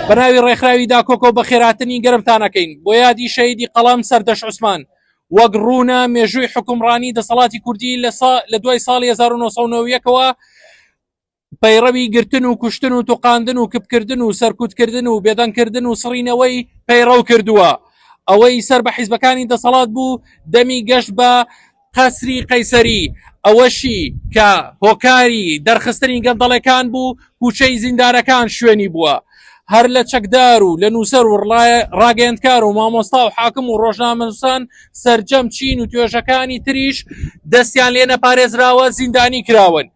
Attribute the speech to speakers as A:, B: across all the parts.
A: بەناوی ڕێکخراوی داکۆکۆ بە خێراتنی گەرمتانەکەین بۆ یادی شەیدی قەڵام سەردەش عوسمان وەک ڕوونە مێژووی حکومڕانی دەسەڵاتی کوردی لە دوای ساڵی 1990ەوە پەیڕەوی گرتن و کوشتن و توقاندن و کپکردن و سەرکوتکردن و بێدەنگکردن و سڕینەوەی پەیڕەو کردووە ئەوەی سەر بە حیزبەکانی دەسەڵات بوو دەمی گەشت بە قەسری قەیسەری ئەوەشی کە هۆکاری دەرخستنی گەندەڵەکان بوو کوچەی زیندارەکان شوێنی بووە هەر لە چەکدار و لە نووسەر و ڕاگەندکار و مامۆستا و حاکم و ڕۆژنامەنووسان سرجەم چین و توێژەکانی تریش دەستیان لێ نەپارێزراوە زیندانی کراون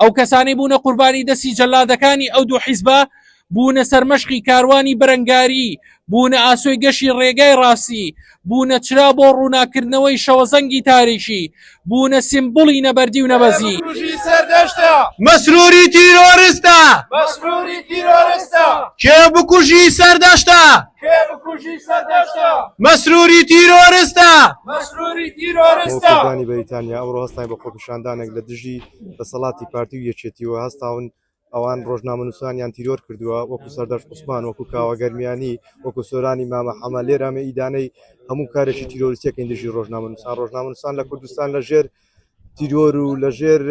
A: ئەو کەسانەی بوونە قوربانی دەستی جەلادەکانی ئەو دوو حیزبە بوونە سەرمەشقی کاروانی بەرەنگاری بوونە ئاسۆی گەشی ڕێگای ڕاستی بوونە چرا بۆ ڕووناکردنەوەی شەوەزەنگی تاریکی بوونە سیمبولی نەبەردی و نەبەزی مەسروری
B: تیرۆرستە کێ بکوژی سەردەشتە مەسروری تیرۆرستە مەسروری تیرۆرستانی
C: بەریتانیا ئەو ڕۆستای بە خۆ خۆپیشاندانێک لە دژی دەسەڵاتی پارتی و یەکێتیوە هەستاون ئەوان ڕۆژنامەنووسانیان تیرۆر کردووە وەکو سەردەش عوسمان وەکو کاوە گەرمیانی وەکو سۆرانی مامە حەمە لێرامە ئیدانەی هەموو کارێکی تیرۆریسیەکەین دژی ڕۆژنامەنووسان ڕۆژنامەنووسان لە کوردستان لە ژێر تیرۆر و لە ژێر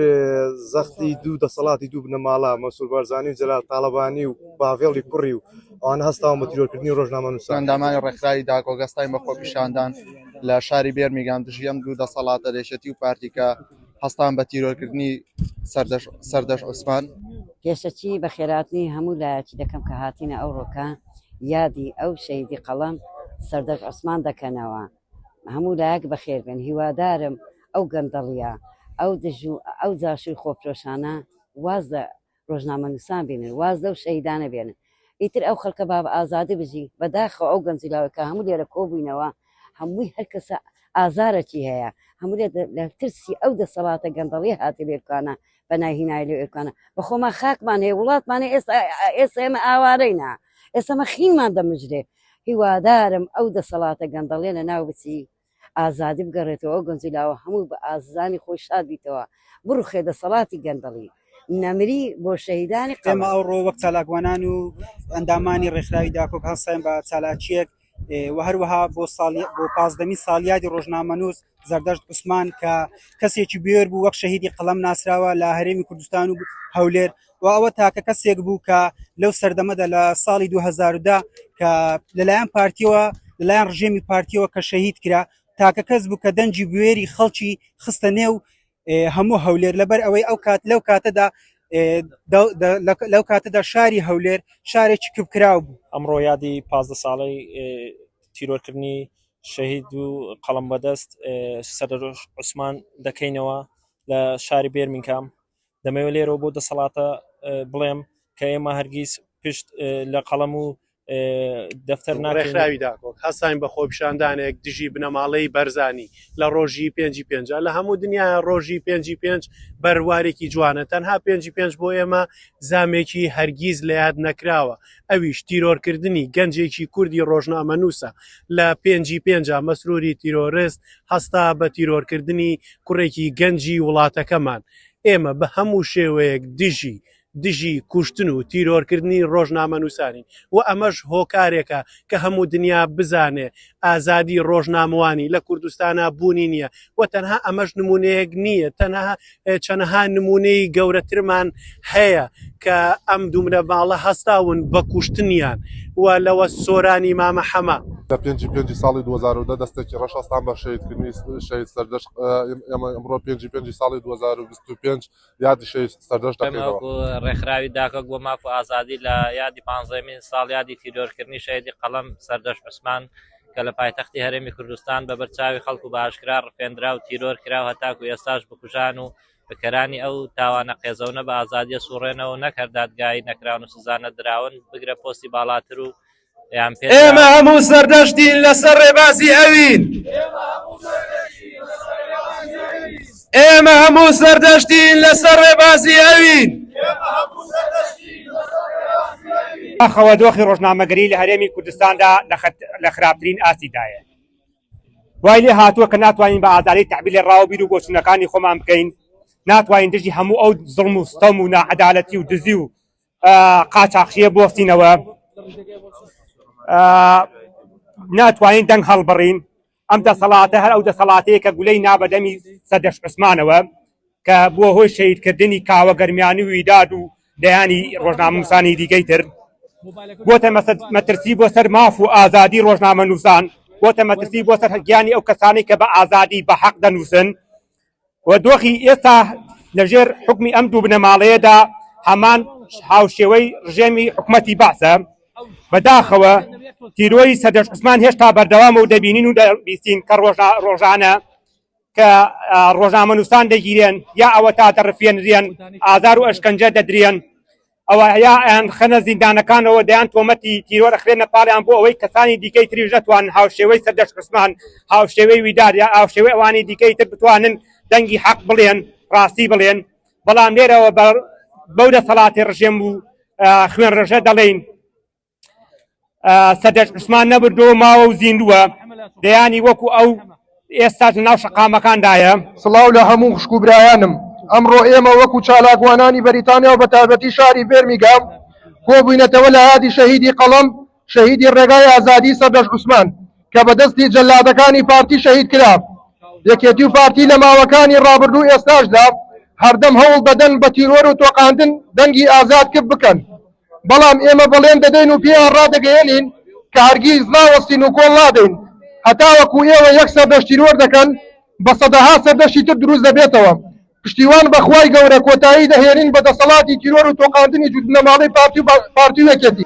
C: زەختی دوو دەسەڵاتی دوو بنەماڵە مەسول بارزانانی و جەلال تاالبانی و باڤێڵی کوڕی و ئەوانە هەستاون بە تیرۆرکردنی ڕۆژنامەنووسان. ئەندامانی ڕێکخراوی داک
D: ئۆگەستای بە خۆپیشاندان لە شاری بێرمیگام دژی ئەم دوو دەسەڵاتە لەشێتی و پارتیکە هەستان بە تیرۆرکردنی سەردەش عوسمان پێشەکی بە
E: خێراتنی هەموو لایەکی دەکەم کە هاتینە ئەو ڕۆکە یادی ئەو شەیدی قەڵەم سەردەش عوسمان دەکەنەوە هەموو لایەک بەخێر بن هیوادارم ئەو گەندەڵیە ئەو دژ و ئەو جاشوی خۆفرۆشانە واز ڕۆژنامەنووسان بێنن واز لەو شەهیدانە بێنن ئیتر ئەو خەڵکە باب ئازادی بژی بەداخەوە ئەو گەنج لاوە کە هەموو لێرە کۆبووینەوە هەمووی هەر کەسە ئازارەکی هەیە هەموو لە ترسی ئەو دەسەڵاتە گەندەڵی هاتە لێرکانە بە ناهینای لێ ئێرکانە بەخۆمان خاکمان هەیە وڵاتمانە ئێستا ئێستا ئێمە ئاوارەینا ئێستا مە خینمان دەمژرێ هیوادارم ئەو دەسەڵاتە گەندەڵێنە ناو بچی ئازادی بگەڕێتەوە ئەو گەنج و لاوە هەمووی بە ئاززانی خۆی شاد بیتەوە بڕوخێ دەسەڵاتی گەندەڵی نەمری بۆ شەهیدانی قەڵا. ئێمە ئەوڕۆ وەک
F: چالاکوانان و ئەندامانی ڕێکخراوی داکۆک هەستاین بە چالاکیەک و هەروەها بۆ ساڵی بۆ پازدەمی ساڵیادی ڕۆژنامەنووس زەردەشت عوسمان کە کەسێکی بێر بوو وەک شەهیدی قەڵەم ناسراوە لە هەرێمی کوردستان و هەولێر و ئەوە تاکە کەسێک بوو کە لەو سەردەمەدا لە ساڵی 2010 کە لەلایەن پارتیەوە لەلایەن ڕژێمی پارتیەوە کە شەهید کرا تاکە کەس بوو کە دەنجی بوێری خەڵکی خستە نێو هەموو هەولێر لەبەر ئەوەی ئەو کات لەو کاتەدا لەو کاتەدا شاری هەولێر شارێکی کپکراو بوو ئەمڕۆ یادی پازدە
G: ساڵی تیرۆرکردنی شەهید و قەڵم بەدەست سەر عوسمان دەکەینەوە لە شاری بێرمینکام دەمەوێت لێرەوە بۆ دەسەڵاتە بڵێم کە ئێمە هەرگیز پشت لە قەڵەم و دەفتەر ناڕێکخراوی داکۆک
B: هەستین بە خۆپیشاندانێک دژی بنەماڵەی بەرزانی لە ڕۆژی پێنجی پێنج لە هەموو دنیا ڕۆژی پێنجی پێنج بەروارێکی جوانە تەنها پێنجی پێنج بۆ ئێمە زامێکی هەرگیز لە یاد نەکراوە ئەویش تیرۆرکردنی گەنجێکی کوردی ڕۆژنامە نووسە لە پێنجی پێنج مەسروری تیرۆرست هەستا بە تیرۆرکردنی کوڕێکی گەنجی وڵاتەکەمان، ئێمە بە هەموو شێوەیەک دژی دژی کوشتن و تیرۆرکردنی ڕۆژنامەنووسانین و ئەمەش هۆکارێکە کە هەموو دنیا بزانێ ئازادی ڕۆژنامەوانی لە کوردستانا بوونی نییە و تەنها ئەمەش نموونەیەک نییە تەنها چەنەها نمونەی گەورەترمان هەیە کە ئەم دومرە باڵە هەستاون بە کوشتنیان و لەوە سۆرانی مامە حەمە. لە پێنجی پێنجی
H: ساڵی دوو هەزار و دە دەستێکی ڕەش هەستان بە شەهیدکردنی شەهید سەردەشت، ئێمە ئەمڕۆ پێنجی پێنجی ساڵی دوو هەزار و بیست و پێنج یادی شەهید سەردەشت دەکەینەوە. ڕێکخراوی داکۆک
I: بۆ ماف و ئازادی لە یادی پانزەمین ساڵیادی تیرۆرکردنی شەهیدی قەڵەم سەردەشت عوسمان، کە لە پایتەختی هەرێمی کوردستان بە بەر چاوی خەڵک و بە ئاشکرا ڕفێندرا و تیرۆر کرا و هەتاکو ئێستاش بکوژان و بکەرانی ئەو تاوانە قێزەونە بە ئازادییە سوڕێنەوە و نەک هەر دادگایی نەکراون و سزا نەدراون بگرە پۆستی باڵاتر و یان پێ ئێمە هەموو سەردەشتین
J: لەسەر ڕێبازی ئەوین. ئێمە هەموو سەردەشتین لەسەر ڕێبازی
K: ئەوین. بەداخەوە دۆخی ڕۆژنامەگەری لە هەرێمی کوردستاندا لە خراپترین ئاستیدایە. وای لێ هاتووە کە ناتوانین بە ئازادی تەعبیر لە ڕاو و بیر و بۆچوونەکانی خۆمان بکەین، ناتوانین دژی هەموو ئەو زوڵم و ستەم و ناعەدالەتی و دزی و قاچاخچییە بوەستینەوە، ناتوانین دەنگ هەڵبڕین. ئەم دەسەڵاتە هەر ئەو دەسەڵاتەیە کە گولەی نا بە دەمی سەردەشت عوسمانەوە کە بووە هۆی شەهیدکردنی کاوە گەرمیانی و ویداد و دەیانی ڕۆژنامەنووسانی دیکەی تر بۆتە مەترسی بۆ سەر ماف و ئازادی ڕۆژنامەنووسان بۆتە مەترسی بۆ سەر گیانی ئەو کەسانی کە بە ئازادی بە حەق دەنووسن و دۆخی ئێستا لە ژێر حوکمی ئەم دوو بنەماڵەیەدا هەمان هاوشێوەی ڕژێمی حکومەتی بەعسە، بەداخەوە تیرۆری سەردەشت عوسمان هێشتا بەردەوامە و دەبینین و دەبیستین کە ڕۆژانە کە ڕۆژنامەنووسان دەگیرێن یا ئەوەتا دەڕفێنرێن، ئازار و ئەشکەنجە دەدرێن. ئەوا یا ئەیانخەنە زیندانەکانەوە دەیان تۆمەتی تیرۆر ئەخرێنە پاڵیان بۆ ئەوەی کەسانی دیکەی تریش نەتوان هاوشێوەی سەردەشت عوسمان هاوشێوەی ویدار یا هاوشێوەی ئەوانی دیکەی تر بتوانن دەنگی حەق بڵێن ڕاستی بڵێن بەڵام لێرەوە بەو دەسەڵاتی ڕژێم و خوێن ڕژە دەڵێین سەدەش عوسمان نەبردۆ ماوە و زیندووە دەیانی وەکو ئەو ئێستاش ناو شقامەکاندایە سڵاو لە هەموو
L: خوشک و برایانم ئەمڕۆ ئێمە وەکو چالاکوانانی بەریتانیا و بەتایبەتی شاری بێرمیگام کۆبووینەتەوە لە یادی شەهیدی قەڵەم شەهیدی ڕێگای ئازادی سەردەش عوسمان کە بەدەستی جەلادەکانی پارتی شەهید کرا یەکێتی و پارتی لە ماوەکانی ڕابردوو ئێستاشدا هەردەم هەوڵ دەدەن بە تیرۆر و تۆقاندن دەنگی ئازاد کپ بکەن بەڵام ئێمە بەڵێن دەدەین و پێیان ڕادەگەیەنین کە هەرگیز ناوەستین و کۆڵ نادەین هەتاوەکو ئێوە یەک سەردەشتی نۆر دەکەن بە سەدەها سەردەشتی تر دروست دەبێتەوە پشتیوان بە خوای گەورە کۆتایی دەهێنین بە دەسەڵاتی تیرۆر و تۆقاندنی جووت بنەماڵەی پارتی و پارتی و یەکێتی.